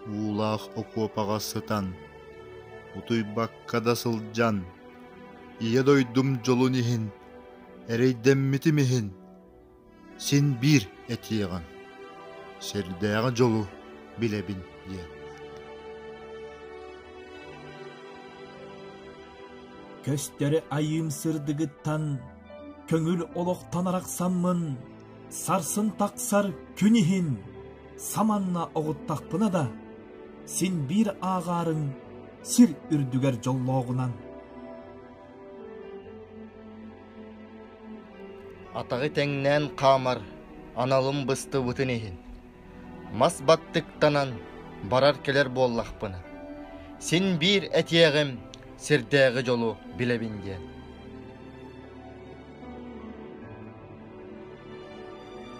Уулаах окуопаҕа сытан, утуйбакка да сылдьан, Ийэ дойдум дьолун иһин, эрэйдэммитим иһин, син биир этиэҕиҥ, сэрдээҕи дьолу билэбин диэн Көстөрү айыым сырдыгыттан көҥүл олохтон арахсаммын сарсын тахсар күн иһин саманна оҕуттахпына да син биир ааҕаарыҥ сир үрдүгэр дьоллооҕунан Атаҕы тэҥнээн хаамар аналым быстыбытын иһин, мас баттыктанан барар-кэлэр буоллахпына, син биир этиэҕим сирдээҕи дьолу билэбин диэн.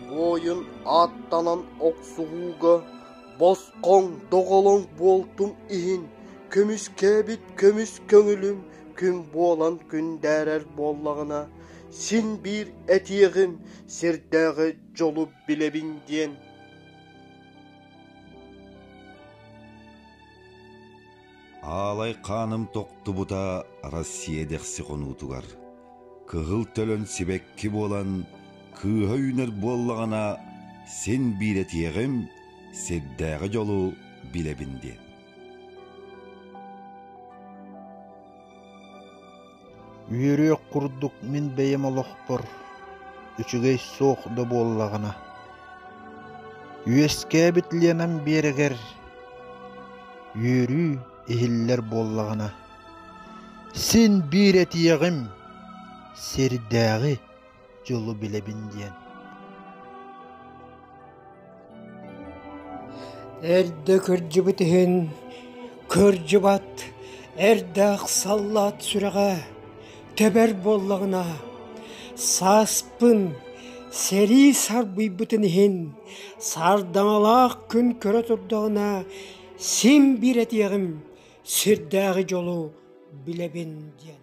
Буойун ааттанан охсуһууга босхоҥ доҕолоҥ буолтум иһин, көмүскээбит көмүс көҥүлүм күн буолан күн дээрэр буоллаҕына, син биир этиэҕим, сирдээҕи дьолу билэбин диэн Аалай хааным тохтубута Россия дэхси хонуутугар кыһыл төлөн сибэкки буолан кыыһа үүнэр буоллаҕына син биир этиэҕим сирдээҕи дьолу билэбин диэн Үөрүөх курдук мин бэйэм олохпор үчүгэй суох да буоллаҕына үөскээбит Ленам биэрэгэр үөрүү иһиллэр буоллаҕына син биир этиэҕим сирдээҕи дьолу билэбин диэн эрдэ кырдьыбыт иһин кырдьыбат эрдээх саллаат сүрэҕэ тэбэр буоллаҕына сааспын сэрии сарбыйбытын иһин сардаҥалаах күн көрө турдаҕына син биир этиэҕим сирдээҕи дьолу билэбин диэн